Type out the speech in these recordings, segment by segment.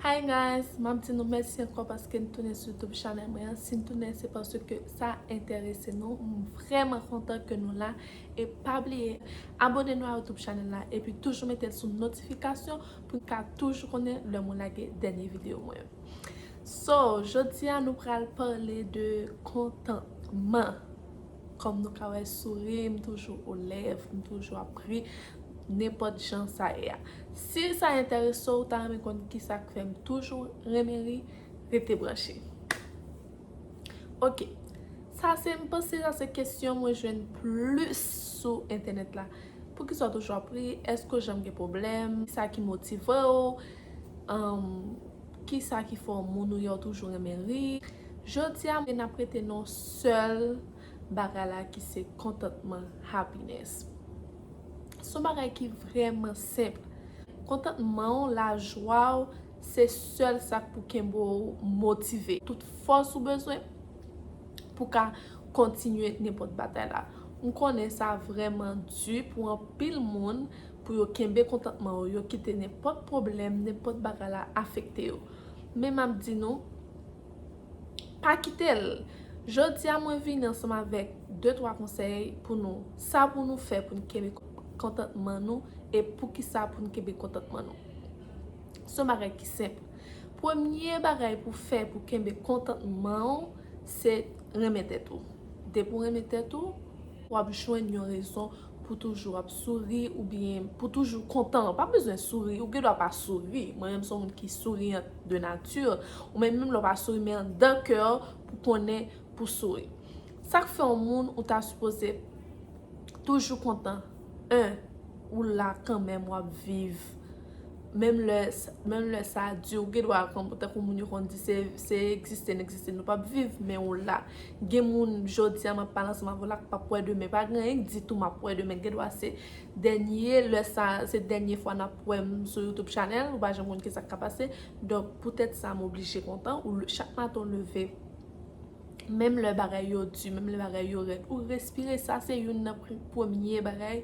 Hi guys map di nou mèsi ankò paske n tounen sou youtube channel mwen an si n tounen se paske sa entèrese nou m vrèman kontan ke nou la e pa bliye abone nou a youtube channel la epi toujou mete l sou notifikasyon pou n ka toujou konnen lè mwen lage dènye videyo mwen so jodi a nou pral pale de kontantman. Kòm nou ka wè souri m toujou o lèv, m toujou ap ri nenpòt jan sa ye a. Si sa enterese w ou ta renmen konn kisa k fè m toujou renmen ri, rete branche. Ok, sa se m panse sa se kesyon mwen jwenn plis sou entènèt la. Poukisa w toujou ap ri? Èske w janm gen pwoblèm? Sa ki motive w? Kisa ki fè w moun ou ye w toujou renmen ri? Jodi a nap rete nan sèl bagay la ki se kontantman, happiness. Se yon bagay ki vrèman senp. Kontantman ou, lajwa ou se sèl sa k pou kenbe ou motive. Tout fòs ou bezwen pou w ka kontinye nenpòt batay la. M konnen sa vrèman di pou anpil moun pou yo kenbe kontantman yo, yo kite nenpòt pwoblèm, nenpòt bagay la afekte yo. Men map di nou. Pa kitel. Jodi a mwen vini ansanm avèk de twa konsèy pou nou. Sa pou nou fè pou nou kenbe kontantman nou e poukisa pou nou kenbe kontantman nou. Son bagay ki senp. Premye bagay pou fè pou kenbe kontantman ou se renmen tèt ou. Depi ou renmen tèt ou wap jwenn yon rezon. Pou toujou ap souri oubyen pou toujou kontan. Ou pa bezwen souri, ou gen dwa pa souri. Mwen menm se yon moun ki souriant de nature. Ou menm menm lè w pa souri men an dan kè w pou konnen pou souri. Sa k fè yon moun ou ta sipoze toujou kontan? 1, Ou la kanmenm w ap viv. Menm lè menm lè sa di ou gen dwa konprann tankou moun yo konn di se se egziste n egziste nou pap viv men ou la gen moun jodi a m ap pale ansanm avè w la k pap wè demen pa gen anyen k di tou m ap wè demen gen dwa se dènye lè sa se dènye fwa n ap wè m sou youtube channel ou pa janm konn ki sa k ka pase donk poutèt sa m oblije kontan ou chak maten ou leve menm lè bagay yo di menm lè bagay yo rèd ou respire sa se youn nan premye bagay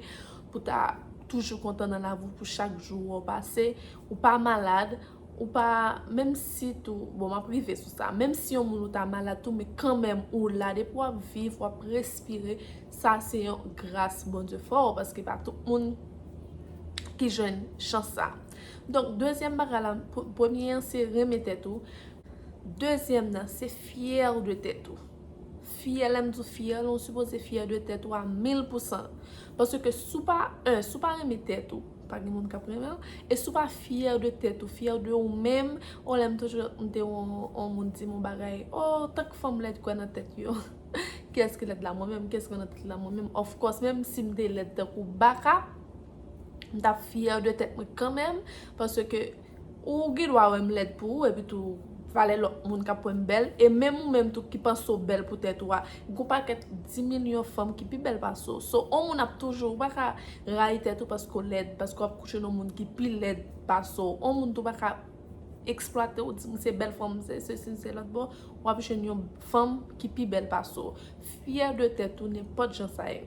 pou ta toujou kontan nan lavi w pou chak jou ou pase ou pa malad ou pa menm si tou bon map rive sou sa menm si yon moun ou ta malad tou men kanmèm ou la depi wap viv wap respire sa se yon gras Bondye fè w paske pa tout moun ki jwenn chans sa donk dezyèm bagay la premye an se renmen tèt ou dezyèm nan se fyè de tèt ou fyè lèm di w fyè la ou sipoze fyè de tèt ou a mil pousan Paske si w pa, 1 si w pa renmen tèt ou, pa gen moun k ap renmen w, e si w pa fyè de tèt ou, fyè de ou menm, yon lè m toujou ap tande yon moun di m yon bagay, oh tank fanm lèd kwè nan tèt yo, kiyès ki lèd la mwen menm, kiyès ki kwè nan tèt li la mwen menm, of course menm si m te lèd tankou baka, m t ap fyè de tèt mwen kanmenm, paske. Ou gen dwa wè m lèd pou ou epi tou valè lòt moun k ap wè m bèl e menm ou menm tou ki panse w bèl pou tèt ou a gen yon pakèt dimilyon fanm ki pi bèl pase w so yon moun ap toujou ou pa ka rayi tèt ou paske w lèd paske w ap kouche nan yon moun ki pi lèd pase w yon moun tou pa ka eksplwate w di m se bèl fanm m se sesi m se lòt bon w ap jwenn yon fanm ki pi bèl pase w fyè de tèt ou nenpòt jan sa ye.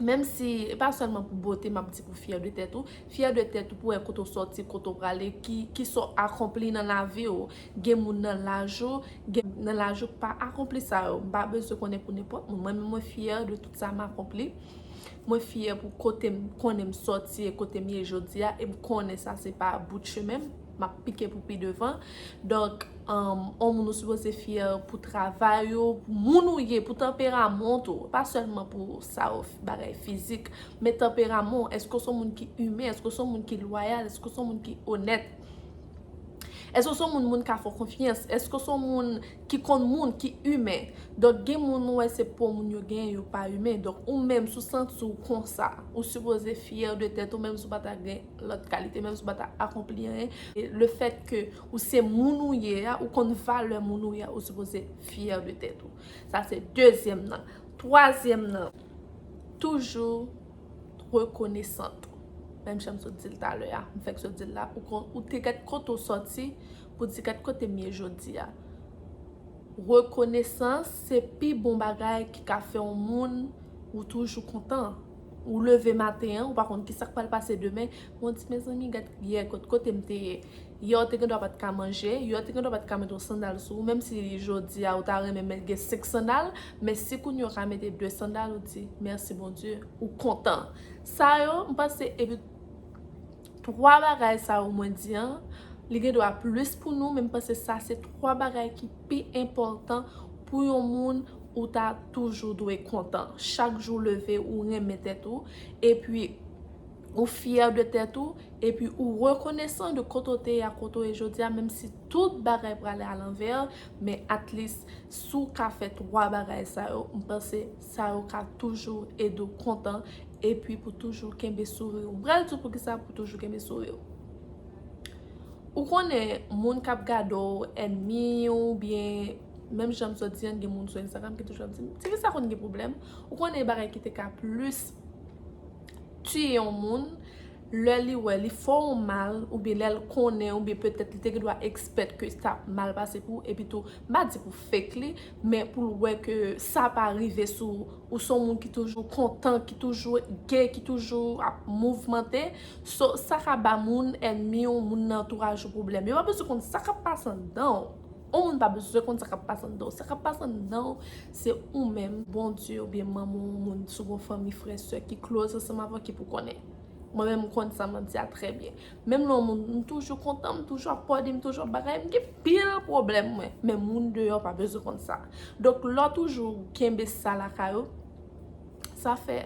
Menm si, e pa sèlman pou bote map di pou fyè de tèt ou, fyè de tèt ou pou wè kote w sòti, kote w prale, ki sa w akonpli nan lavi w. Gen moun nan laj ou, gen moun nan laj ou ki pa akonpli sa yo. M pa bezwen konnen pou nenpòt moun. Mwen menm mwen fyè de tout sa m akonpli. Mwen fyè pou kote m konnen m sòti e kote m ye jodi a. E m konnen sa se pa bout chemen m. map pike pou pi devan donk on moun ou sipoze fyè pou travay ou pou moun ou ye pou tanperamont ou pa sèlman pou sa ou bagay fizik men tanperamon ou èske ou son moun ki imen èske ou son moun ki lwayal èske ou son moun ki onèt èske ou son moun moun ka fè w konfyans èske ou son moun ki konn moun ki imen donk gen moun ou wè se po moun yo gen yo pa imen donk ou menm si w santi w konsa ou sipoze fyè de tèt ou menm si w pata gen lòt kalite menm si w pa ta akonpli anyen. Le fèt ke ou se moun ou ye a, ou konn valè moun ou ye a, ou sipoze fyè de tèt ou. Sa se dezyèm nan. Twazyèm nan, toujou rekonesant. Menm jan m sot di l talè a, m fèk sot di l la, ou te gad kote ou soti pou di gad kote m ye jodi a. Rekonesans se pi bon bagay ki ka fè yon moun ou toujou kontan. Ou leve maten an, ou pa konn ki sa k pral pase demen. Men w di, mezanmi, gad yè kote m te ye. Yè ou te gendwa pa t ka manje. Yè ou te gendwa pa t ka mete yon sandal sou ou. Menm si jodi a ou ta renmen men gen senk sandal. Men si kounye ou ka mete de sandal, ou di, mèsi Bondye. Ou kontan. Sa yo, m panse, epi 3 bagay sa yo mwen di an, li gen dwa plis pou nou, men m panse sa se 3 bagay ki pi enpòtan pou yon moun ou ta toujou dwe kontan. Chak jou w leve ou renmen tèt ou, epi ou fyè de tèt ou, epi ou rekonesan de kote w te ye a kote w ye jodi a, menm si tout bagay prale alanvè, men at least si w ka fè 3 bagay sa yo, m panse. Sa yo ka toujou ede w kontan epi pou toujou kenbe souri w. M pral di w poukisa pou toujou kenbe souri w. Ou konnen moun k ap gade w ènmi oubyen menm jan m sot di an gen moun sou Instagram ki toujou ap di m ti fi sa konn gen pwoblèm. Ou konnen bagay ki te ka plis tiye yon moun. lè li wè li fè w mal oubyen lè l konnen oubyen petèt li te gen dwa ekspèt ke sa ap mal pase pou ou epi tou m pa di pou fake li men pou l wè ke sa pa rive sou ou ou se yon moun ki toujou kontan ki toujou gay ki toujou ap mouvmante so sa ka ba moun ènmi w moun nan antouraj ou pwoblèm yo pa bezwen konn sa k ap pase anndan w. On moun pa bezwen konn sa kap pase anndan w. Sa kap pase anndan w se ou menm, Bondye oubyen manman w, moun sou gwo fanmi, frè, sè ki close ansanm avè w ki pou konnen. Mwen menm m konn sa map di a trè byen. Menm lè on moun m toujou kontan, m toujou ap pòde, m toujou ap bagay, m gen pil pwoblèm mwen. Men moun deyò pa bezwen konn sa. Donk lè w toujou kenbe sa lakay ou. Sa fè,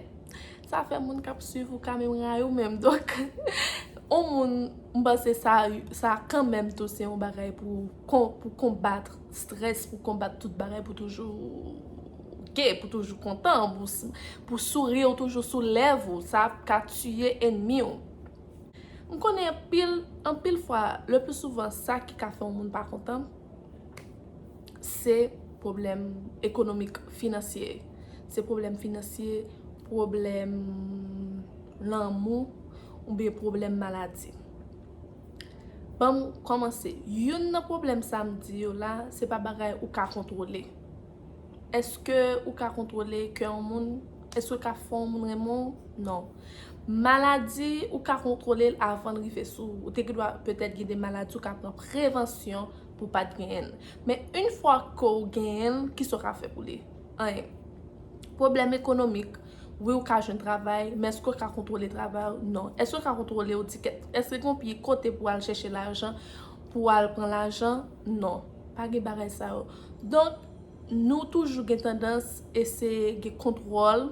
sa fè moun k ap swiv ou ka menm rayi w menm. Donk, yon moun, m panse sa, sa kanmenm tou se yon bagay pou konbat strès, pou konbat tout bagay, pou toujou gay, pou toujou kontan, pou souri w toujou sou lèv ou. Sa ap ka tiye enmi w. M konnen anpil, anpil fwa, le pli souvan sa ki ka fè yon moun pa kontan, se pwoblèm ekonomik, finansye. Se pwoblèm finansye, pwoblèm lanmou, oubyen pwoblèm maladi. Banm kòmanse, youn nan pwoblèm sa m di yo la, se pa bagay ou ka kontwole. Eske ou ka kontwole kè yon moun? Eske ou ka fè yon moun renmen w? Non. Maladi, ou ka kontwole l avan l rive sou ou. Ou te gen dwa petèt gen de maladi ou ka pran prevansyon pou w pa t genyen l. Men, yon fwa ke w genyen l, kisa w ka fè pou li? Anyen. Pwoblèm ekonomik, wi ou ka jwenn travay, men eske ou ka kontwole travay ou? Non. Eske ou ka kontwole ou di kèt? Eske gen yon peyi kote pou w al chèche lajan, pou w al pran lajan? Non, pa gen bagay sa yo. Donk, nou toujou gen tandans eseye gen kontwòl,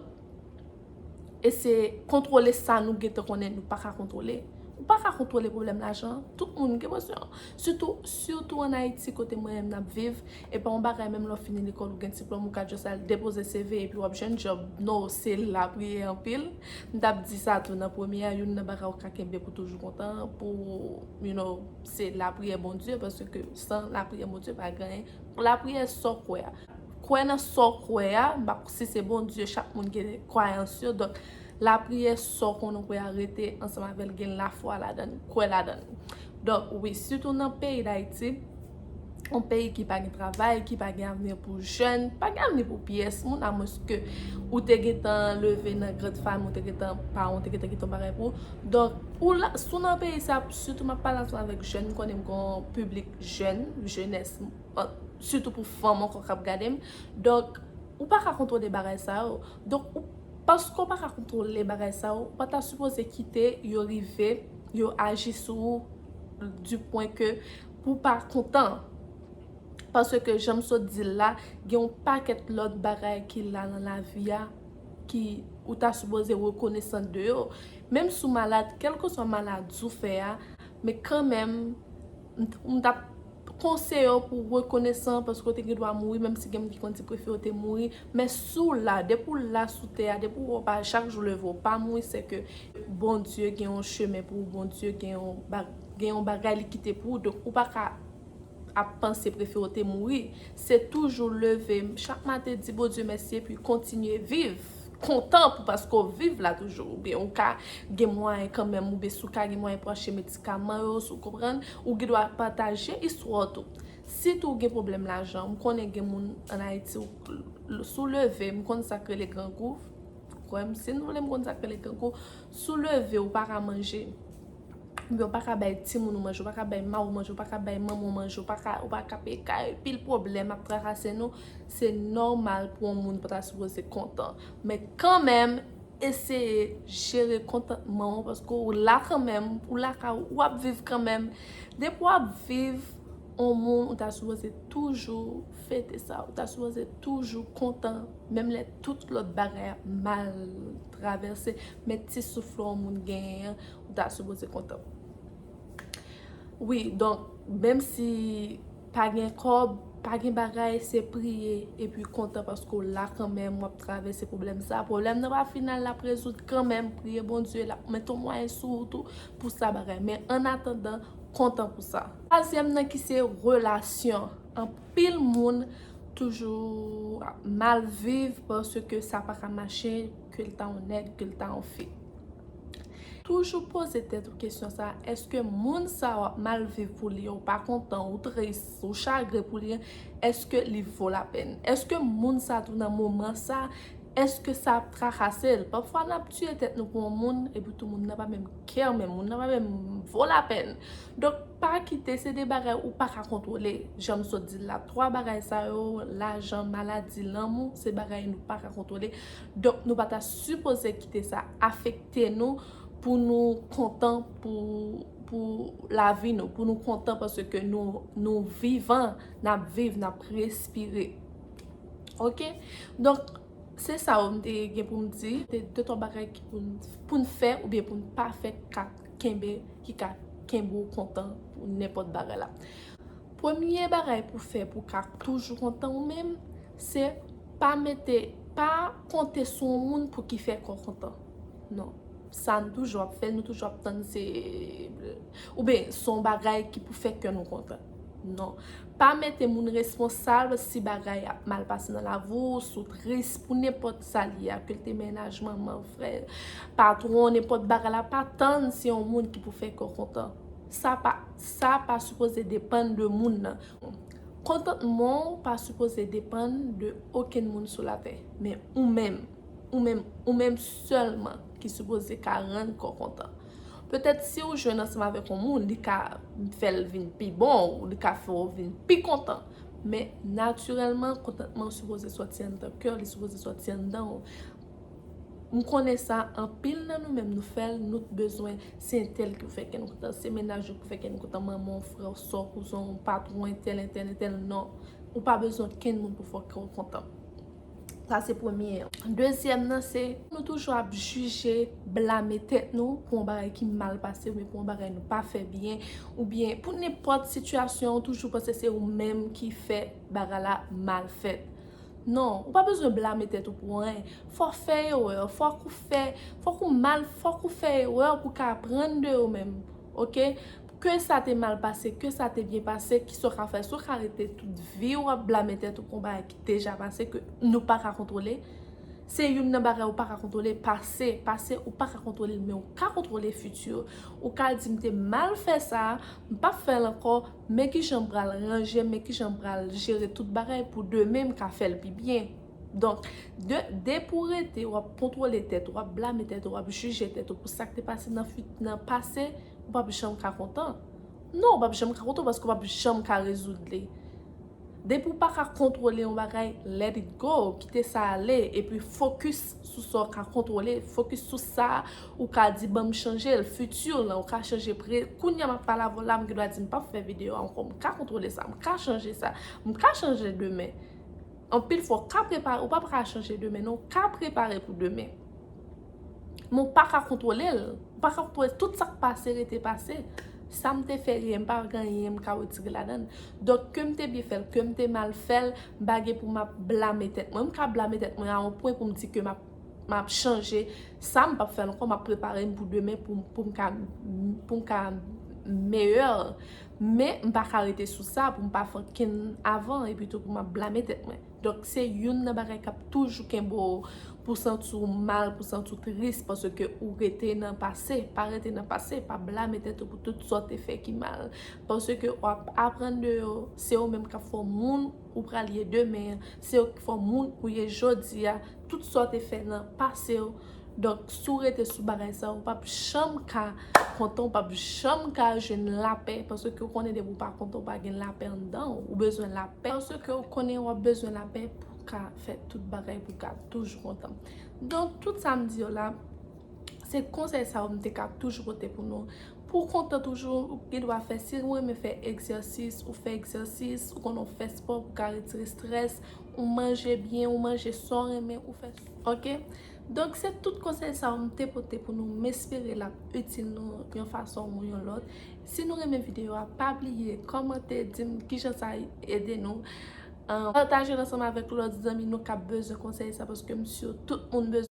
eseye kontwole sa nou gen te konnen nou pa ka kontwole. Ou pa ka kontwole pwoblèm lajan. Tout moun gen bezwen an. Sitou, sitou an Ayiti kote mwen menm nap viv, e pa yon bagay menm lè w fini lekòl ou gen diplòm ou ka just al depoze CV epi wap jwenn djòb. No, se lapriyè anpil. M tap di sa tou nan premye a, youn nan bagay ou ka kenbe pou toujou kontan, pou, you know. Se lapriyè Bondye paske san lapriyè Bondye pa gen anyen. Lapriyè sa w kwè a. Kwè nan sa w kwè a. M pa si se Bondye chak moun gen kwayans yo. Donk lapriyè sa w konnen w kwè a rete ansanm avè l gen lafwa ladan l. Kwè ladan l. Donk wi sitou nan peyi Dayiti yon peyi ki pa gen travay, ki pa gen avni pou jèn, pa gen avni pou pyès moun, a mwens ke ou te gen tan leve nan grand fami, ou te gen tan, paran w te gen tan kite yon bagay pou ou. Donk, ou la, si w nan peyi sa, sitou m ap pale ansanm avèk jèn, m konnen m gen yon piblik jèn, jenès, sitou pou fanm ankò k ap gade m. Donk, ou pa ka kontwole bagay sa yo. Donk, paske ou pa ka kontwole bagay sa yo, ou pa ta sipoze kite yo rive, yo aji sou ou, di pwen ke, pou pa kontan. Paske jan m sot di l la, gen yon pakèt lòt bagay ki la nan lavi a ki ou ta sipoze rekonesan de yo. Menm si w malad, kèlkeswa maladi w fè a, men kanmenm m t ap konseye w pou w rekonesan paske w te gen dwa mouri menm si gen moun ki konn di prefere w te mouri. Men si w la, depi w la sou tè a, depi w pa chak jou leve w pa mouri se ke Bondye gen yon chemen pou ou, Bondye gen yon bagay. Gen yon bagay li kite pou ou donk ou pa ka ap panse prefere w te mouri. Se toujou leve chak maten di Bondye mèsi epi kontinye viv. Kontan pou paske w viv la toujou. Oubyen ou ka gen mwayen kanmenm oubyen si w ka gen mwayen pou achte medikaman yo, si w konprann. Ou gen dwa pataje istwa w tou. Si tou w gen pwoblèm lajan, m konnen gen moun ann Ayiti ou k, si w leve, m konn sa k rele grangou, kwè m, si n vle m konn sa k rele grangou, si w leve ou pa ka manje. Oubyen ou pa ka bay timoun ou manje, ou pa ka bay mari w manje, ou pa ka bay manman w manje, ou pa ka, ou pa ka peye kay, pil pwoblèm ap trakase nou, se nòmal pou yon moun pa ta sipoze kontan. Men kanmenm, eseye jere kontantman w paske ou la kanmenm, ou lakay ou, ou ap viv kanmenm. Depi w ap viv, yon moun ou ta sipoze toujou fete sa, ou ta sipoze toujou kontan, menm lè tout lòt bagay ap mal travèse, men ti souf lò yon moun genyen an. Ou ta sipoze kontan. Wi donk menm si pa gen kòb, pa gen bagay se priye epi kontan paske w la kanmenm w ap travèse pwoblèm sa. Pwoblèm nan pa final l ap rezoud kanmenm. Priye Bondye l ap mete yon mwayen sou ou tou pou sa bagay. Men annatandan kontan pou sa. Twazyèm nan ki se relasyon. Anpil moun toujou ap mal viv paske sa pa ka mache ke l ta yon nèg, ke l ta yon fi. Toujou poze tèt ou kesyon sa, eske moun sa a wap mal viv pou li, ou pa kontan, ou tris, ou chagren pou li an, eske li vo la pèn? Eske moun sa tou nan moman sa, eske sa ap trakase l? Pafwa nap tiye tèt nou pou yon moun, epi tou moun nan pa menm kè w menm, moun nan pa menm vo la pèn. Donk pa kite, se de bagay ou pa ka kontwole, jan m sot di l la. 3 bagay sa yo, lajan, maladi, lanmou, se bagay nou pa ka kontwole. Donk nou pa ta sipoze kite sa afekte nou pou nou kontan pou lavi nou, pou nou kontan paske nou vivan, n ap viv, n ap respire. Ok, donk se sa yo m te gen pou m di. Se de twa bagay ki pou n fè oubyen pou n pa fè ki ka kenbe, ki ka kenbe ou kontan pou nenpòt bagay la. Premye bagay pou fè pou w ka toujou kontan ou menm, Se pa mete, pa konte sou yon moun pou ki fè kò kontan. Non. Sa nou toujou ap fè, nou toujou ap tann se, oubyen se yon bagay ki pou fè kè nou kontan. Non. Pa mete moun responsab si bagay ap mal pase nan lavi w, si w tris pou nenpòt sa li ye, ke l te mennaj, manman, frè, patwon, nenpòt bagay la, pa tann se yon moun ki pou fè kè w kontan. Sa pa, sa pa sipoze depann de moun nan. Kontantman w pa sipoze depann de okenn moun sou latè, men ou menm, ou menm, ou menm sèlman ki sipoze ka rann kò kontan. Petèt si w jwenn ansanm avèk yon moun, li ka fè l vin pi bon ou li ka fè w vin pi kontan, men natirèlman kontantman w sipoze sòti anndan kè w, li sipoze sòti anndan w. M konnen sa anpil nan nou menm nou fèl nou t bezwen se entèl ki pou fè kè nou kontan se mennaj ou ki pou fè kè nou kontan manman w frè w sè w kouzen w patron entèl entèl entèl non ou pa bezwen okenn moun pou fè kè w kontan sa se premye an dezyèm nan se nou toujou ap jije blame tèt nou pou yon bagay ki mal pase oubyen pou yon bagay nou pa fè byen oubyen pou nenpòt sitiyasyon ou toujou panse se ou menm ki fè bagay la mal fèt. Non, ou pa bezwen blame tèt ou pou anyen. Fò w fè erè, fòk ou fè, fòk ou mal, fòk ou fè erè pou w ka aprann de yo menm. Ok? Ke sa te mal pase, ke sa te byen pase, kisa w ka fè? Si w ka rete tout vi w ap blame tèt ou pou yon bagay ki deja pase, ke nou pa ka kontwole, se youn nan bagay ou pa ka kontwole, pase. Pase ou pa ka kontwole l, men ou ka kontwole fiti. Ou ka di m te mal fè sa, m p ap fè l ankò. Men kijan m pral ranje, men kijan m pral jere tout bagay pou demen m ka fè l pi byen. Donk, depi ou rete, w ap kontwole tèt ou, w ap blame tèt ou, w ap jije tèt ou pou sa k te pase nan pase, ou p ap janm ka kontan. Non, ou p ap janm ka kontan paske ou p ap janm ka rezoud li. Depi w pa ka kontwole yon bagay let it go, kite sa ale epi fokis sou sa w ka kontwole, fokis sou sa ou ka di banm chanje l, futur lan ou ka chanje pre, kounya map pale avè w la m gendwa di m pap fè video a ankò m ka kontwole sa, m ka chanje sa, m ka chanje demen, anpil fwa w ka prepare, ou pa ka chanje demen non, w ka prepare pou demen. Men w pa ka kontwole l. Ou pa ka kontwole tout sa k pase rete pase. Sa m te fè yè m pa gen anyen m ka wetire ladan l. Donk ke m te byen fè l, ke m te mal fè l, m pa gen pou m ap blame tèt mwen. M ka blame tèt mwen a on pwen pou m di ke m ap chanje sa, m p ap fè l ankò, m ap prepare m pou demen pou m ka pou m ka meyè. Men m pa ka rete sou sa pou m pa fè okenn avan epi tou pou m ap blame tèt mwen. Donk se youn nan bagay k ap toujou kenbe w pou santi w mal, pou santi w tris paske ou rete nan pase. Pa rete nan pase, pa blame tèt ou pou tout sa w te fè ki mal. Paske w ap aprann de yo, se yo menm k ap fè w moun ou pral ye demen an, se yo k fè w moun ou ye jodi a. Tout sa w te fè nan pase w. Donk si w rete sou bagay sa ou pap janm ka kontan ou pap janm ka jwenn lapè paske ou konnen depi ou pa kontan ou pa gen lapè anndan w ou bezwen lapè paske ou konnen wap bezwen lapè pou w ka fè tout bagay pou w ka toujou kontan donk tout sa m di yo la se konsèy sa yo m te ka toujou pote pou nou pou w kontan toujou ou gen dwa fè si ou renmen fè egzèsis ou fè egzèsis ou konnen w fè spò pou w ka retire strès ou manje byen ou manje sa w renmen ou fè Ok donk se tout konsèy sa yo m te pote pou nou m espere l ap itil nou yon fason ou yon lòt si nou renmen videyo a pa bliye kòmante di m kijan sa ede nou pataje l ansanm avèk lòt zanmi nou k ap bezwen konsèy sa paske m si tout moun bezwen.